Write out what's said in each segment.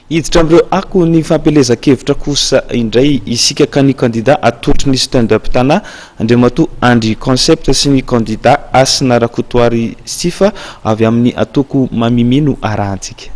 Hiditra amin'ireo akon'ny fampielezan-kevitra kosa indray isika ka ny kandida atolotry ny Stand Up Tana, Andriamatoa Andry Concept sy ny kandida Hasina Rakotoary Sifa avy amin'ny antoko Mamimia no arahantsika.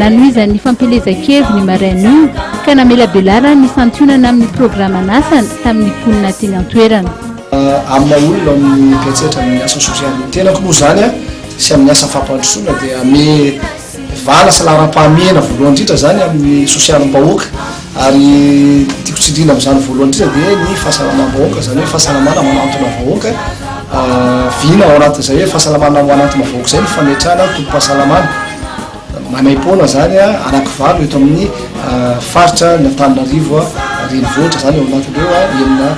Nanohizan'ny fampielezan-keviny marain'io ka namelabelarany ny santionana amin'ny programan'asany tamin'ny mponina teny an-toerana. Amin'ny maha olona ao amin'ny Kaisetra amin'ny asa sosialy ny tenako moa izany sy amin'ny asa fampandrosoana dia hamehy vàla sy laharam-pahamehana voalohany indrindra izany amin'ny sosialim-bahoaka. Ary tiako tsindriana amin'izany voalohany indrindra dia ny fahasalamam-bahoaka, izany hoe fahasalamana manantona vahoaka, vina ao anatin'izay hoe fahasalamana manantona vahoaka izay ny fametrahana tobim-pahasalamana maimaim-poana izany anakivalo eto amin'ny faritra ny Antananarivo renivohitra izany ao anatin'ireo enina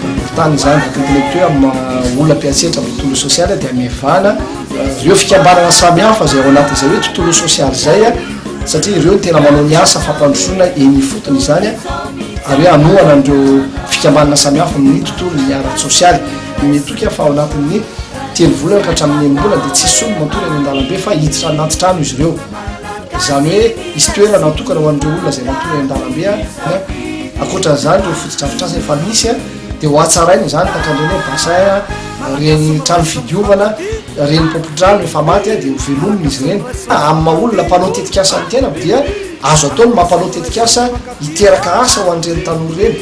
boriborintany izany. Araka ny teneniko teo amin'ny maha olona mpiantsehatra amin'ny tontolo sosialy dia mivana ireo fikambanana samihafa izay ao anatin'izay hoe tontolo sosialy izay. satria ireo no tena manao ny asa fampandrosoana eny ifotony izany ary hoe hanohana an'ireo fikambanana samihafa amin'ny tontolon'ny ara-tsosialy. Dineho toky aho fa ao anatin'ny telo volana ka hatramin'ny enim-bolana dia tsisy olona matory any an-dalambe fa hiditra anaty trano izy ireo. Izany hoe hisy toerana natokana ho an'ireo olona izay matory any an-dalambe. Ankoatra an'izany ireo fotodrafitrasa efa misy. Dia hohatsaraina izany tankandreny hoe bassin a, ireny trano fidiovana, ireny pompon-drano efa maty a, dia hovelomina izy ireny. Amin'ny maha olona mpanao tetikasa ny tenako dia azo atao ny mampanao tetikasa hiteraka asa ho an'ireny tanora ireny.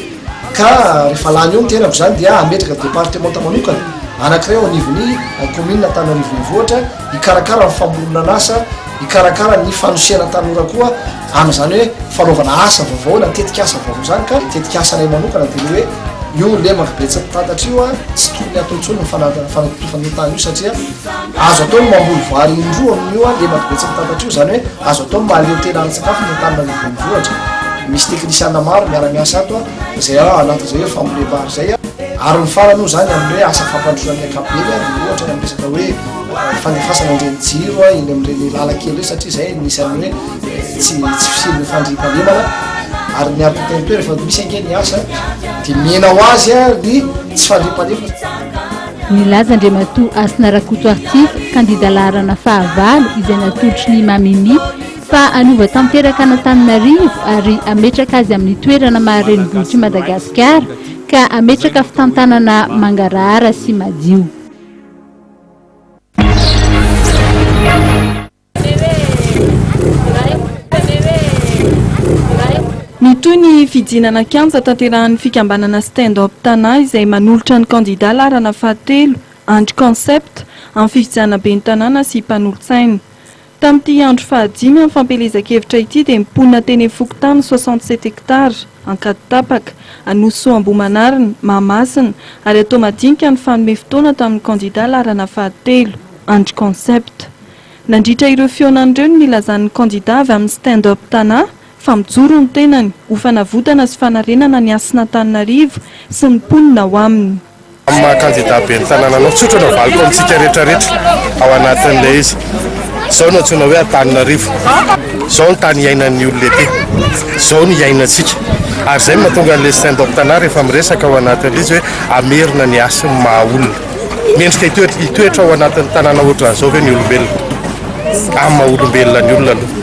Ka rehefa lany eo ny tenako izany dia hametraka departemanta manokana anankiray ao anivon'ny kaominina Antananarivo Renivohitra hikarakara ny famoronan'asa, hikarakara ny fanosehana tanora koa. Amin'izany hoe fanaovana asa vaovao na tetikasa vaovao izany ka tetikasa anay manokana dia ny hoe io lemaka be tsy mitatatra io an, tsy tokony hatao intsony ny fanatotofana io tany io satria azo atao ny mamboly vary indroa amin'io an, lemaka be tsy mitatatra io, izany hoe azo atao ny mahaleo tena ara-tsakafo ny Antananarivo Renivohitra. Misy teknisiana maro miara-miasa ato an, izay ao anatin'izay hoe fambolem-bary izay an. Ary ny farany moa izany amin'ny hoe asa fampandrosoana ny ankapobeny an, dia ohatra ny amin'ny resaka hoe fandefasana an'ireny jiro an, eny amin'ireny lalan-kely ireny satria izay anisan'ny hoe. tsy tsy fisian'ny fandriampahalemana ary ny ampitenitoera fa misy ange ny asa dia mihena ho azy a ny tsy fandriampahalemana Nilaza Andriamatoa Hasina Rakoto Artif, kandida laharana fahavalo izay natolotry ny Mamimi fa hanova tanteraka an'Antananarivo ary hametraka azy amin'ny toerana maha renivohitr'i Madagasikara ka hametraka fitantanana mangarahara sy madio. Mitohy ny fijinana an-kianja tanterahan'ny fikambanana Stand Up Tana izay manolotra ny kandida laharana fahatelo, Andry Concept, amin'ny fifidianana ben'ny tanàna sy mpanolotsaina. Tamin'ity andro fahadimy amin'ny fampielezan-kevitra ity dia ny mponina teny amin'ny fokontany soixante sept hectares, Ankaditapaka, Anosy-Soa Ambohimanarina, Mahamasina, ary Atoamadinika no fanome fotoana tamin'ny kandida laharana fahatelo, Andry Concept. Nandritra ireo fihaonany ireo no nilazan'ny kandida avy amin'ny Stand Up Tana fa mijoro ny tenany ho fanavotana sy fanarenana ny Hasin'Antananarivo sy ny mponina ao aminy. Amin'ny maha kandida ben'ny tanàna anao, tsotra no avaliko amintsika rehetrarehetra ao anatin'ilay izy. Izao no antsoina hoe Antananarivo. Izao ny tany iainan'ny olona ety. Izao no iainantsika. Ary izay no mahatonga an'ilay Stand Up Tana rehefa miresaka ao anatin'ilay izy hoe hamerina ny hasin'ny maha olona. Mendrika hitoetra ao anatin'ny tanàna ohatran'izao ve ny olombelona? Amin'ny maha olombelona ny olona aloha.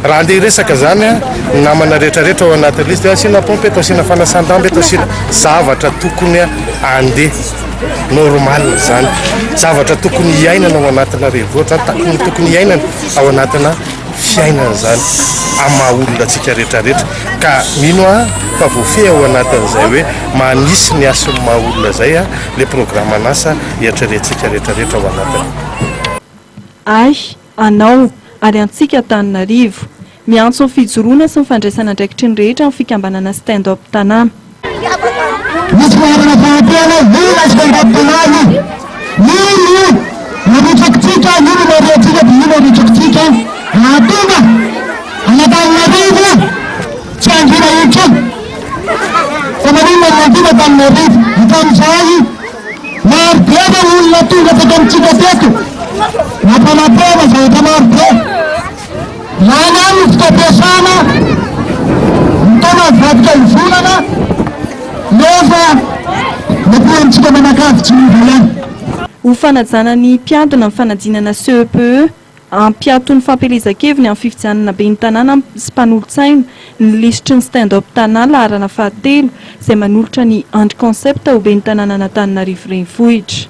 Raha andeha hiresaka izany ny namana rehetrarehetra ao anatin'ny lisy dia asiana pompe eto, asiana fanasan-damba eto, asiana zavatra tokony andeha normal izany. Zavatra tokony hiainana ao anatina renivohitra izany, tokony tokony hiainana ao anatina fiainana izany amin'ny maha olona antsika rehetrarehetra. Ka mino aho fa voafehy ao anatin'izay hoe manisy ny hasin'ny maha olona izay aho. le programan'asa iatrerentsika retraretra ao anatiny. Ahy, anao, ary antsika Antananarivo. Miantso ny fijoroana sy ny fandraisana andraikitry ny rehetra ny fikambanana Stand Up Tanà. Misy fahefana fahantena io ilay Stand Up Tanà io. Io no arotsakitsika, io no marihantsika dia io no arotsakitsika hahatonga an'Antananarivo. Tsy hangina intsony fa maninona no nangina tamin'ny arivo? Hatramin'izay maro be ve ny olona tonga teto amintsika teto nampanantena zavatra maro be? Lany any ny fotoam-piasana, ny taona mivadika ny volana nefa ny ankilanatsika manakavy tsy miova ihany. Ho fanajana ny mpiadona ny fanadinana CEPE. Hampiato ny fampielezan-keviny amin'ny fifidianana ben'ny tanàna sy mpanolotsaina ny lisitry ny Stand Up Tanà laharana fahatelo izay manolotra an'i Andry Concept ho ben'ny tanànan'Antananarivo Renivohitra.